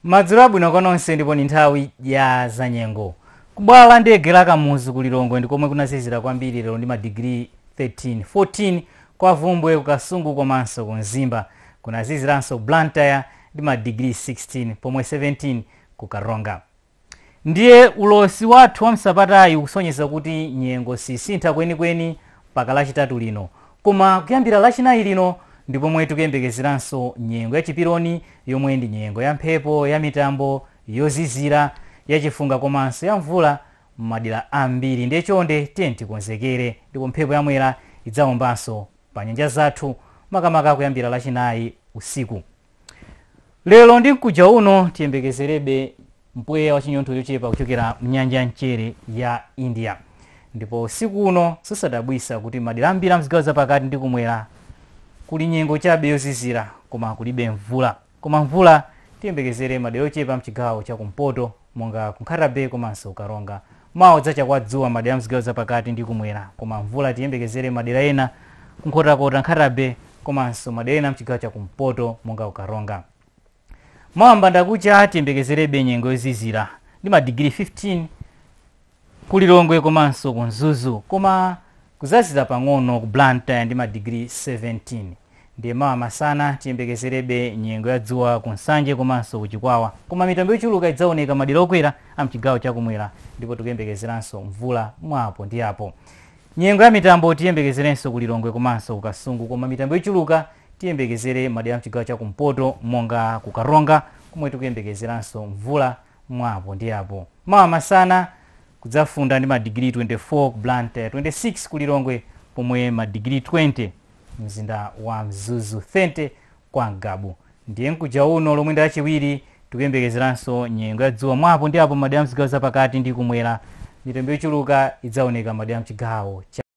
Madzulo abwino kwa nonse ndipo ndi nthawi ya zanyengo. Ku bwalo la ndege la Kamuzu ku Lilongwe ndi komwe kunazizira kwambiri lero ndi madigiri 13, 14 kwa Bvumbwe, ku Kasungu komanso ku Mzimba. Kunaziziranso Blantyre ndi madigiri 16 pomwe 17 ku Karonga. Ndiye ulosi wathu wa m'sabatayi ukusonyeza kuti nyengo sisintha kwenikweni mpaka Lachitatu lino. Koma kuyambira Lachinayi lino ndi pomwe tikuyembekezeranso nyengo ya chiperoni yomwe ndi nyengo ya mphepo ya mitambo yozizira, ya chifunga komanso ya mvula m'madera ambiri. Ndiye chonde tiyeni tikonzekere. Ndipo mphepo ya Mwera idzaombanso panyanja zathu makamaka kuyambira Lachinayi usiku. lero ndi mkuja uno tiyembekezerebe mpweya wa chinyontho chochepa kuchokera mnyanja ya mchere ya india ndipo usiku uno sizodabwitsa kuti madera ambiri amzigawo zapakati ndi kumwera kuli nyengo chabe yozizira koma kulibe mvula koma mvula tiyembekezere madera ochepa mchigawo cha kumpoto monga ku Nkhata-Bay komanso Karonga. Mawa kudzacha kwa dzuwa m'madera a mzigawo zapakati ndi kumwera koma mvula tiyembekezere m'madera ena ku Nkhotakota, Nkhata-Bay komanso madera ena amchigawo cha kumpoto monga ku Karonga. Mawa m'bandakucha tiyembekezerebe nyengo yozizira ndi madigiri 15. ku Lilongwe komanso ku Mzuzu koma kudzazizira pang'ono ku Blantyre ndi madigiri 17 ndiye mawa masana tiyembekezerebe nyengo ya dzuwa ku Nsanje komanso ku Chikwawa koma mitambo yochuluka idzaoneka madera okwera a mchigawo chakumwera ndipo tikuyembekezeranso mvula mwa apo ndi apo. Nyengo ya mitambo tiyembekezerenso ku Lilongwe komanso ku Kasungu koma mitambo yochuluka tiyembekezere madera a mchigawo chakumpoto monga ku Karonga komwe tikuyembekezeranso mvula mwa apo ndi apo. Mawa masana kudzafunda ndi madigiri 24 ku Blantyre, 26 ku Lilongwe pomwe madigiri 20 mumzinda wa Mzuzu, 30 kwa Ngabu. Ndiye mkuja uno lomwe ndi Lachiwiri tikuyembekezeranso nyengo ya dzuwa mwa apo ndi apo m'madera a m'zigawo zapakati ndi kumwera. Mitambo yochuluka idzaoneka m'madera a m'chigawo cha